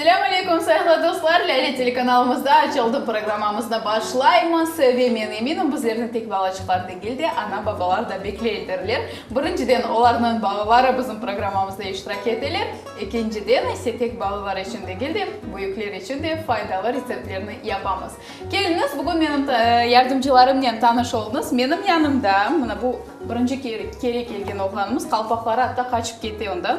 Selâm aleykum, sayıqlı dostlar! Lâle telekanalımızda Aç oldım programmamıznı başlaymız ve men eminim, bizlerni tek balaçıqlar degil de, ana-babalar da bekleydirler. Birinciden, olarnıñ balaları bizim programmamızda iştirak eteler, ekinciden ise, tek balalar içün degil de, büyükler içün de faydalı retseptlerni yapamız. Keliñiz, bugün menim yardımcılarımnen tanış oluñız. Menim yanımda, mına bu birinci kere kelgen oğlanımız, qalpaqları atta qaçıp kete ondan,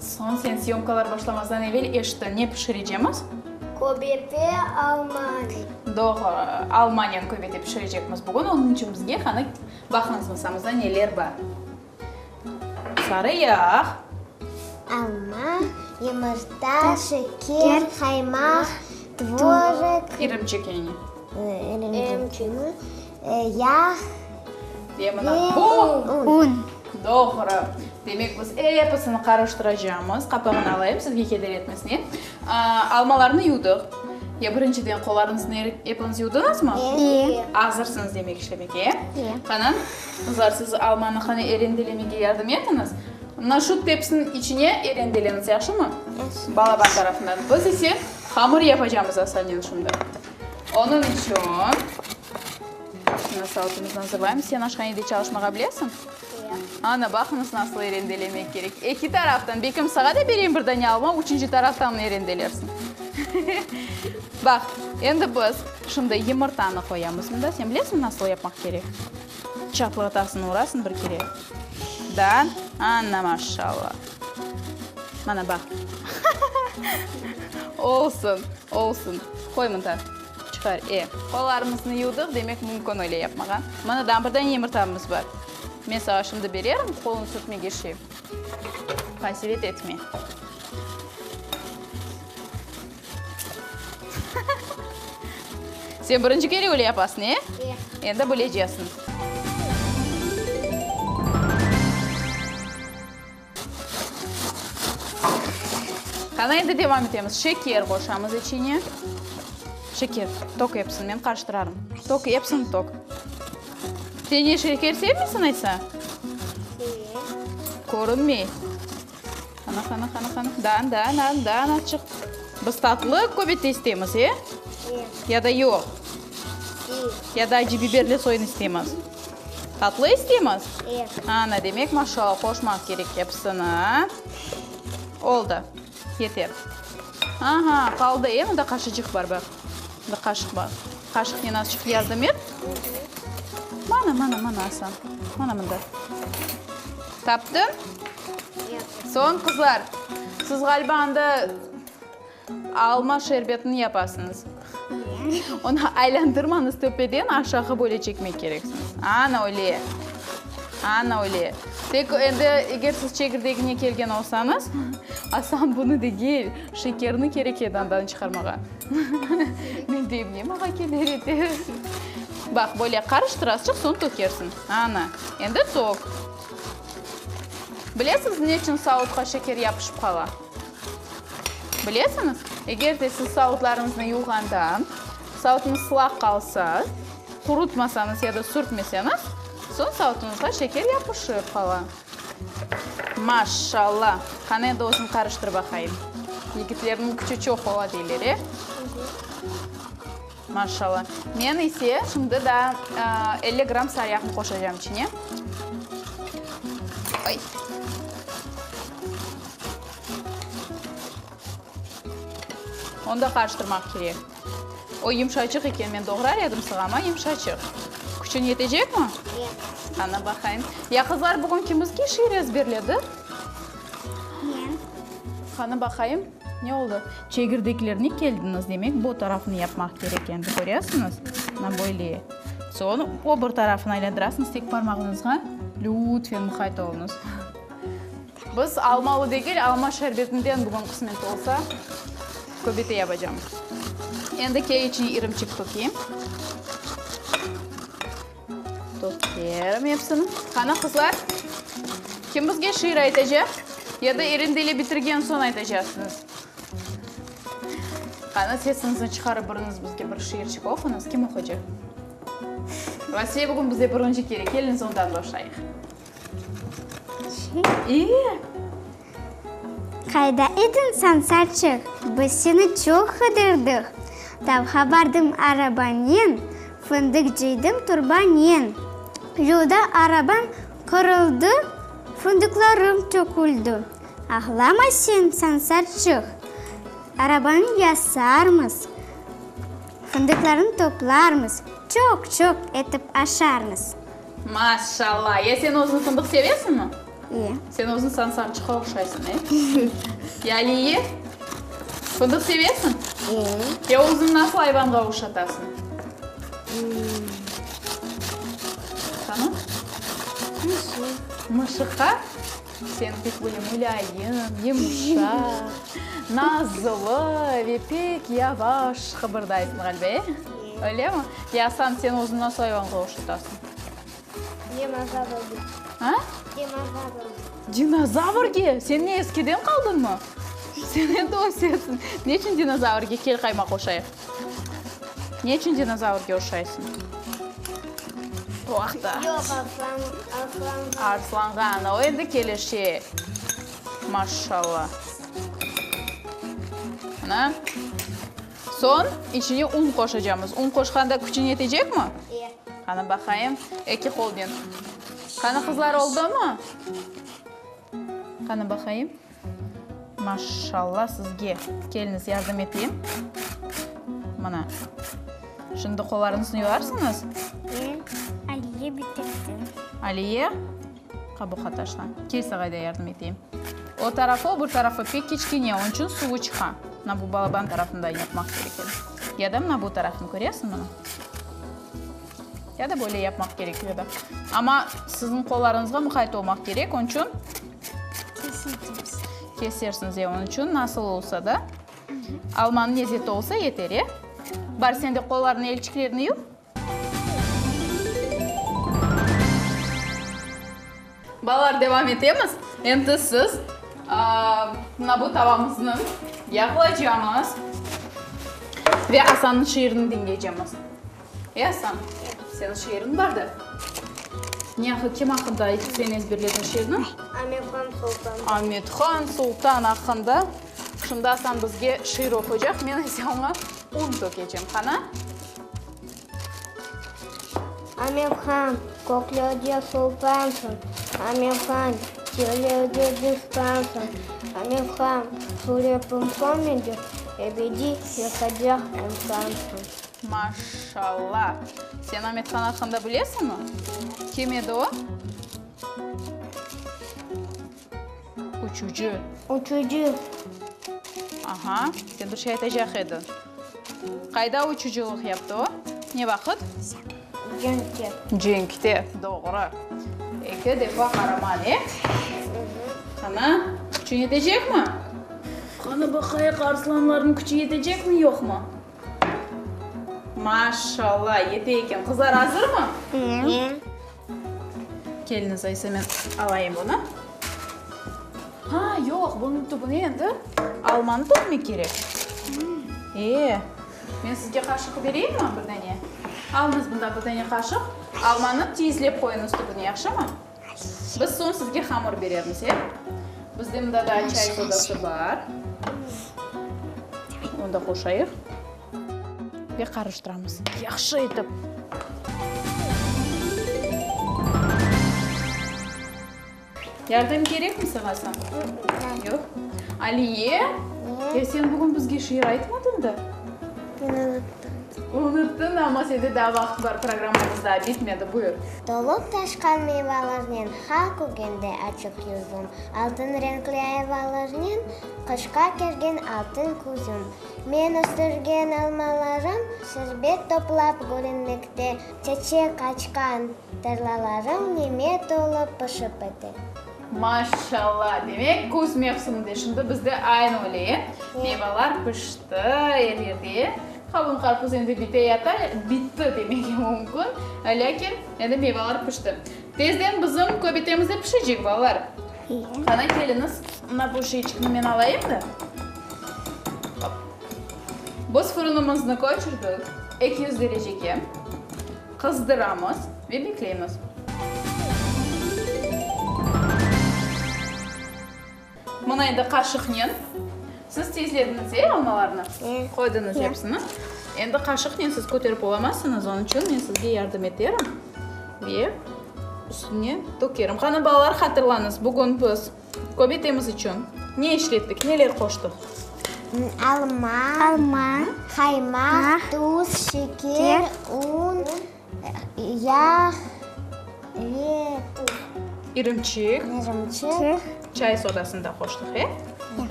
Soñ sen syomkalar başlamazdan evel eşittin, ne pişirecemiz? Köbete Almaniy. Doğru, Almaniyanıñ köbeti pişirecekmiz bugün. Onıñ içün bizge qani baqıñız masamızda neler bar. Sarı yağ. Alma, yumurta, şeker, qaymaq, tvorik. İrimçik yani. İrimçik. Yağ ve un. Doğru. Demek, biz episini qarıştıracağımız. Qapağını alayım, sizge keder etmesine. Almalarnı yuvdıq. Ya birinciden qollarıñıznı eritip epiniz yuvdıñızmı? İyi. Azırsıñız demek işlemege. İyi. Qani, qızlar, siz almanı qani erendelemege yardım etiñiz. Mına şu tepsiniñ içine erendeleñiz, yahşımı? Balaban tarafından. Biz ise hamır yapacağımız asanen şimdi. Onıñ içün şunı saatımıznı azırlayımız. Sen aşhanede çalışmağa bilesiñ? Ya. Ana, baqıñız, nasıl erendelemek kerek. Eki taraftan, bekim, sağa da bereyim bir dane alma, üçünci taraftan erendelersiñ. Baq, endi biz şunday yımırtanı qoyamız mında. Sen bilesiñmi, nasıl yapmaq kerek? Çatlatasıñ, urasıñ bir kere. Da? Ana, maşalla! Mana, baq. Olsun, olsun. Qoy mında, çıqar, e. Qollarımıznı yuvdıq, demek, mümkün öyle yapmağa. Mana, daa bir dane yımırtamız bar. Men sağa şimdi bererim, qoluñ sürtmege şey. Qasevet etme. Sen birinci kere öyle yapasın, e? E. Endi bilecesın. Qana, endi devam etemiz. Şeker qoşamız içine. Şeker, toq epsin, men qarıştırarım. Toq epsin, toq. Sen ne, şeker sevmeysin, aytsa? Körünmey. Ana, ana, ana, ana, ana, da, da, da, da, ana, çık. Biz tatlı köbette istemiz, e? Ya da yoq? Ya da acı biberli soyun istemiz? Tatlı istemiz? Ana, demek, maşala qoşmaq kerek episini, a? Oldı, yeter. Aha, qaldı, e? Mında qaşıcıq bar, baq. Mında qaşıq bar. Qaşıqnen azıcıq yardım et. Mana, mana, mana, Asan, mana mında. Taptı? Soñ, qızlar, siz ğaliba anda alma şerbetini yapasıñız. Onı aylandırmañız, töpeden aşağı böyle çekmek kereksiñiz. Ana öyle. Ana öyle. Tek endi eger siz çekirdegine kelgen olsañız, aslan bunı degil, şekerni kerek edi andan çıqarmağa. Men deyim, ne mağa keler edi? Baq, böyle qarıştırasıñ, soñ tökersiñ. Ana, endi toq. Bilesiñiz, neçün sautqa şeker yapışıp qala? Bilesiñiz? Eger de siz sautlarıñıznı yuvğanda sautınız sılaq qalsa, qurutmasañız ya da sürtmeseñiz, soñ sautuñızğa şeker yapışıp qala. Maşşalla! Qani, endi özüñ qarıştır baqayım. Yigitlerniñ küçü çoq ola, deyler, e? Maşşalla. Men ise şimdi daa elli gramm saryağnı qoşacağım içine. Ay. Onu da qarıştırmaq kerek. O yımşaçıq eken, men doğrar edim sığa, amma yımşaçıq. Küçün yetecekmi? Yoq. Qana baqayım. Ya qızlar, bugün kimizge şiir ezberledi? Men. Qana baqayım. Ne oldı? Çegirdeklerni keldiñiz, demek, bu tarafını yapmaq kerek endi, köresiñiz? Mına böyle. Soñ o bir tarafını aylandırarsıñız tek parmağıñızğa. Lütfen muqayt oluñız. Biz almalı degil, alma şerbetinden bugün qısmet olsa köbete yapacam. Endi kek içine irımçıq tökeyim. Tökerim epsini. Qana, qızlar, kim bizge şiir aytacaq? Ya da irindili bitirgen soñ aytacaqsıñız? Qana, sesiñizni çıqarıp biriñiz bizge bir şiirçik oquñız. Kim oqaycaq? Vasile bugün bizde birinci kere, keliñiz ondan başlayıq. Qayda ediñ sen, Salçıq? Biz seni çoq qıdırdık. Tavğa bardım arabanen, fındıq cıydım turbanen. Yolda arabam qırıldı, fındıqlarım töküldi. Ağlama sen, sen, Salçıq, arabanı yasarmız, fındıqlarını toplarmız, çoq-çoq etip aşarmız. Maşallah! Ya sen özün fındıq sevesiñmi? İye. Sen özün sansarçıqqa oqşaysıñ, e? Ya Aliye, fındıq sevesiñ? İye. Ya özüñ nasıl ayvanğa oqşatasıñ? Qana? Mışıq. Mışıqqa? Sen pek böyle mulâyim, yumşaq, nazlı ve pek yavaş qıbırdaysıñ ğaliba, e? Öylemi? Ya Asan, sen özüni nasıl ayvanğa oşatasıñ? Dinozavrge. A? Dinozavrge. Dinozavrge? Sen ne, eskiden qaldıñmı? Sen endi ösesiñ. Ne içün dinozavrge? Kel qaymaq oşayıq. Ne içün dinozavrge oşaysıñ? Bu aqta. Yoq, arslan, arslanğa. Arslanğa, ana, o endi keleşe. Maşşalla. Ana. Soñ içine un qoşacamız. Un qoşqanda küçün yetecekmi? E. Qani, baqayım. Eki qolnen. Qani, qızlar, oldumu? Qani, baqayım. Maşşalla sizge. Keliniz yardım eteyim. Mına. Şimdi qolarıñıznı yuvarsıñız. Ben Aliye bitirdim. Aliye, qabuqa taşla. Kel sağa da yardım eteyim. O tarafı, o bir tarafı pek kiçkene, onıñ içün suvu çıqa. Mına bu balaban tarafından yapmaq kerek edi. Ya da mına bu tarafını köresiñ, mına. Ya da böyle yapmaq kerek edi. Amma siziñ qollarıñızğa muqayet olmaq kerek, onıñ içün. Keseceğiz. Kesersiñiz, e, onıñ içün nasıl olsa da almanıñ lezzeti olsa yeter, e? Bar, sen de qollarıñnı, elçiklerni yuv. Balalar, devam etemiz. Endi siz mına bu tavamıznı yağlaycamız ve Asanıñ şiirini diñleycemiz. Easan, seniñ şiiriñ bar da. Ne aq, kim aqqında aytıp sen ezberledin şiirni? Amethan Sultan. Amethan Sultan aqqında. Şimdi Asan bizge şiir oquycaq, men ise oña un tökecem. Qana. Amethan, kökli öge sultansıñ. Amethan, kirli öge distansıñ. Amethan, suretim sönmege, ebediy yaşaycaq insansıñ. Maşşalla! Sen Amethan aqqında bilesiñmi? Kim edi o? Uçucı. Uçucı. Aha, sen bir şey aytacaq ediñ. Qayda uçucılıq yaptı o? Ne vaqıt? Cenkte. Cenkte, doğru. Eki defa qaraman, e? Qana, küçün yetecekmi? Qana, baqayıq, arslanlarnıñ küçü yetecekmi, yoqmı? Maşşalla, yete eken. Qızlar azırmı? Ye. Keliñiz, ayse men alayım bunı. Ha, yoq, bunıñ tübüne endi almanı tökmek kerek. E, men sizge qaşıq bereyimmi bir dane? Alıñız bundan bir dane qaşıq, almanı tiyizlep qoyuñız tübüne, yahşımı? Biz soñ sizge hamır beremiz, e? Bizde mında daa çay sodası bar. Onı da qoşayıq. Ve qarıştıramız yahşı etip. Yardım kerekmi saña, Sam? Yoq. Aliye, e sen bugün bizge şiir aytmadıñ da? Ben unuttım. Unuttın, amma sende daa vaqıt bar, programmamız daa bitmedi. Buyur. Tolıp taşqan meyvalarnen ha kögende açıq yüzüm, Altın renkli ayvalarnen qışqa kergen altın küzüm. Men östürgen almalarım şerbet toplap gülünmekte, Çeçek açqan Tarlalarım neme tolıp pişip edi. Maşşalla! Demek, küz mevsiminde, şimdi bizde aynı öyle, e? Meyvalar pişti er yerde, e? Qavun, qarpuz endi bite yata, bitti demege mümkün, lâkin endi meyvalar pişti. Tezden bizim köbetemiz de pişecek, balalar. Qana, keliñiz, mına bu şişçikni men alayım da. Biz fırınımıznı köçürdik eki yüz derecege. Qızdıramız ve bekleymiz. Mına endi qaşıqnen. Siz tezlediñiz, e, almalarnı? E. Qoydıñız episini. Endi qaşıqnen siz köterip olamazsıñız, onıñ içün men sizge yardım eterim ve üstüne tökerim. Qani, balalar, hatırlañız, bugün biz Köbetemiz içün ne işlettik, neler qoştıq? Alma. Alma. Qaymaq. Tuz. Şeker. Un. Yağ. Ve tuz. İrimçik. İrimçik. Çay sodasını da qoştıq, e? Ya.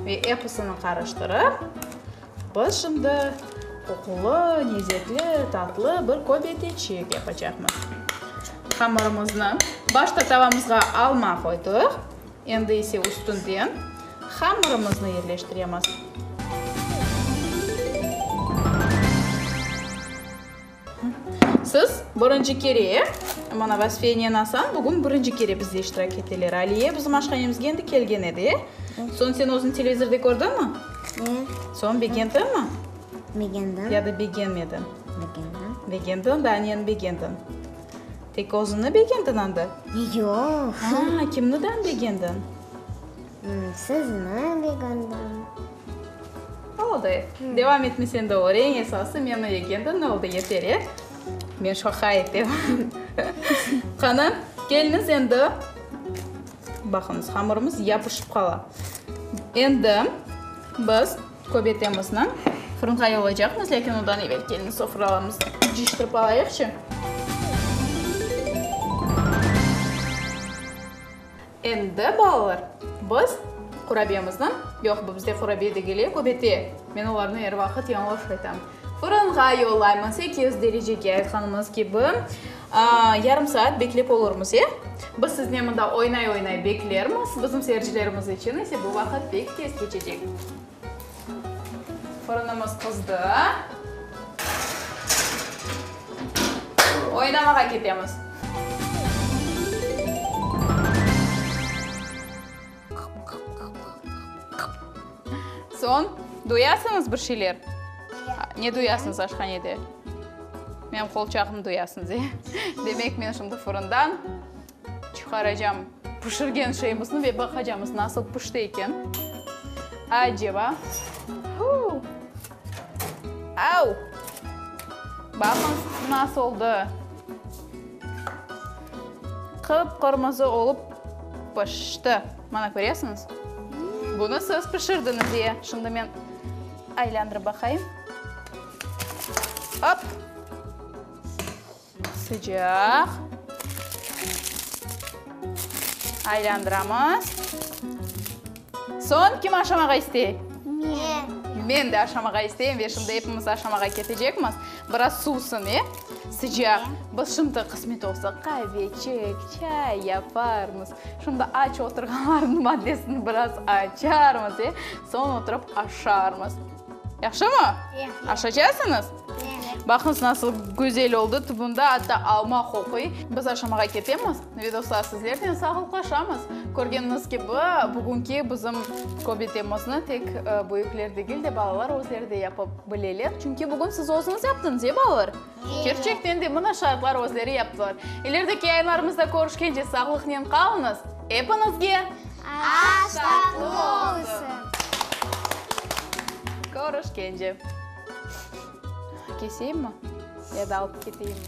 Ve episini qarıştırıp. Biz şimdi qoqulı, nezekli, tatlı bir köbeteçik yapacaqmız. Hamırımıznı başta tavamızğa alma qoydıq, endi ise üstünden hamırımıznı yerleştiremiz. Siz birinci kere, mana Vasfiye enen Asan bugün birinci kere bizde iştirak eteler. Aliye bizim aşhanemiz endi kelgen edi, e? Soñ sen özün televizorda kördiñmi? E. Soñ begendiñmi? Begendim. Ya da begenmediñ? Begendim. Begendiñ da aneni begendiñ. Tek özüni begendiñ anda? Yoq. Aa, kimniden begendiñ? Sizni begendim. Oldı. Devam etme sen de or. Eñ esası men öyegendim. Oldı, yeter, e. Men şoqa etem. Qani, kelniz endi. Baqıñız, hamırımız yapışıp qala. Endi biz köbetemizni fırınğa yollaycaqmız, lâkin ondan evel kelniz sofralarımızı cıyıştırıp alayıqçı. Endi balalar, biz qurabiyemizni, yoq, bu bizde qurabiye degeli, köbete, men olarnı er vaqıt yañlış aytam, fırınğa yollaymız, sekiz yüz derecege, aytqanımız kibi, yarım saat beklep olurmız, e? Biz siznen mında oynay-oynay beklermiz, bizim seyircilerimiz içün ise bu vaqıt pek tez keçecek. Fırınımız qızdı. Oynamağa ketemiz. Soñ, duyasıñız bir şeyler? Ne duyasıñız aşhanede? Menim qolçağımnı duyasıñız, e? Demek, men şimdi fırından Çıqaracam pişirgen şeyimizni ve baqacamız nasıl pişti eken. Aceba. Huu! Au! Baqıñ, nasıl oldı. Qıp-qırmızı olıp pişti. Mana köresiñiz? Bunı siz pişirdiñiz, e. Şimdi men aylandırıp baqayım. Op! Sıcaq. Aylandıramız. Soñ kim aşamağa istey? Men. Men de aşamağa isteyim ve şimdi epimiz aşamağa ketecekmiz. Biraz suvsın, e? Sıcaq. Biz şimdi qısmet olsa qavecik, çay yaparmız. Şimdi aç oturğanlarnıñ maddesini biraz açarmız, e? Soñ oturıp aşarmız. Yahşımı? Aşacasıñız? Baqıñız, nasıl güzel oldı, tubunda atta alma qoquy. Biz aşamağa ketemiz. Vidoslar sizlernen sağlıqlaşamız. Körgeniñiz kibi, bugünki bizim köbetemizni tek büyükler degil de, balalar özleri de yapıp bileler. Çünki bugün siz özüñiz yaptıñız, e, balalar? Kerçekten de mına şaatlar özleri yaptılar. İlerideki yayınlarımızda körüşkence sağlıqnen qalıñız. Epiñizge. Aş tatlı olsun! Körüşkence. Keseyim mi? Ya da alıp keteyim mi?